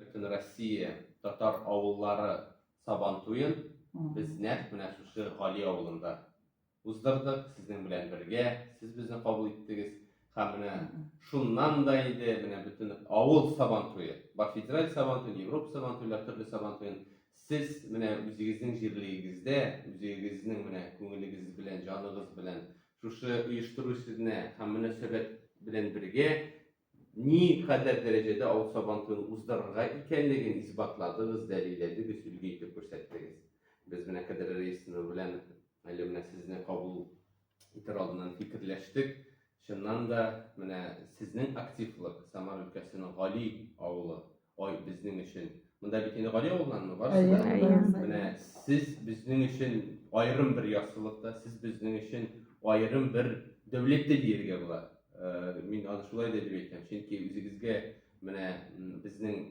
Бөтенроссия татар авыллары Сабантуен без нәкъ менә шушы Гали авылында уздырдык, сезнең белән бергә, сез безне кабул иттегез. Һәм менә шуннан да инде менә бөтен авыл Сабантуе, бар федераль Сабантуен, Европа Сабантуйлар, төрле Сабантуен сез менә үзегезнең җирлегегездә, үзегезнең менә күңелегез белән, җаныгыз белән шушы оештыру сезне һәм мөнәсәбәт белән бергә Ни кадәр дәрәҗәдә авыл Сабантуен уздырырга икәнлеген исбатладыгыз, дәлилләдегез, өлге итеп күрсәттегез. Без менә Кадерле Раисовна белән әле менә сезне кабул итәр алдыннан фикерләштек. Чыннан да, менә сезнең активлык Самар өлкәсенең Гали авылы Ой, безнең өчен. Монда бит инде Гали авылынанмы барысы да? Әйе, әйе. Менә сез безнең өчен аерым бер яссылыкта, сез безнең өчен аерым бер дәүләттә диергә була. Э, Мин аны шулай да дип әйтәм, чөнки үзегезгә менә м, безнең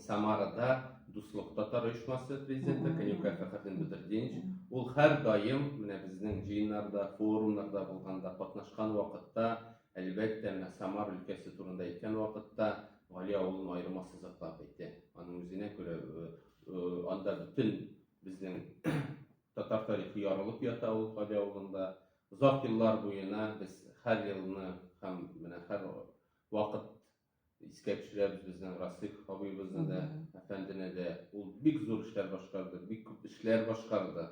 Самарада Дуслык татар оешмасы президенты Конюкай Фәхретдин Бедрдинович, ул һәрдаим менә безнең җыеннарда, форумнарда булганда, катнашкан вакытта Әлбәттә, менә Самар өлкәсе турында әйткән вакытта, Гали авылын аерым ассызыклап әйтә. Аның үзенә күрә э, э, анда бөтен безнең татар тарихы ярылып ята ул Гали авылында. Озак еллар буена без һәр елны һәм менә һәр вакыт Искә төшерәбез безнең Расыйх абыйыбызны да, әфәндене дә. Ул бик зур эшләр башкарды, бик күп эшләр башкарды.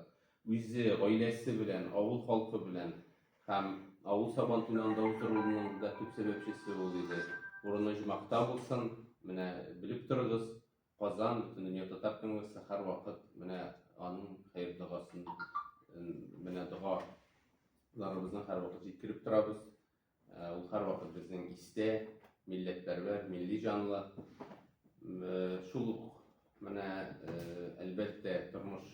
Үзе, гаиләсе белән, авыл халкы белән һәм авыл Сабан туен анда уздыруның да төп сәбәпчесе ул иде. Урыны җмахта булсын, менә белеп торыгыз, Казан, Бөтендөнья татар конгрессы һәрвакыт менә аның хәер догасын, менә догаларыбызны һәрвакыт җиткереп торабыз. Ул һәрвакыт безнең истә, милләтпәрвәр, милли җанлы. Шул ук менә әлбәттә тормыш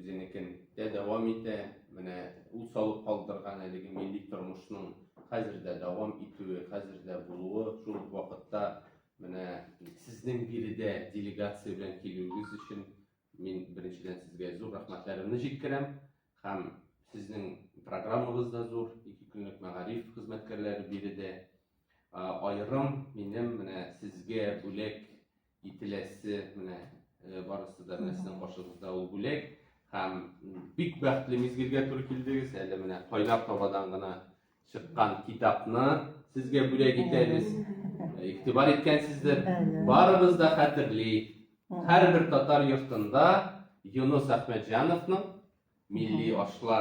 үзенекен дә дәвам итә. Менә ул салып калдырган әлеге милли тормышның хәзер дә дәвам итүе, хәзер дә булуы, шул ук вакытта менә сезнең биредә делегация белән килүегез өчен Мин беренчедән сезгә зур рәхмәтләремне җиткерәм һәм сезнең программагыз да зур, ике көнлек мәгариф хезмәткәрләре биредә аерым минем менә сезгә бүләк ителәсе менә барысы да менә сезнең каршыгызда ул бүләк һәм бик бәхетле мизгелгә туры килдегез әле менә кайнар табадан гына чыккан китапны сезгә бүләк итәбез. Игътибар иткәнсездер. Барыбыз да хәтерли. Һәрбер татар йортында Юнус Әхмәтҗановның милли ашлар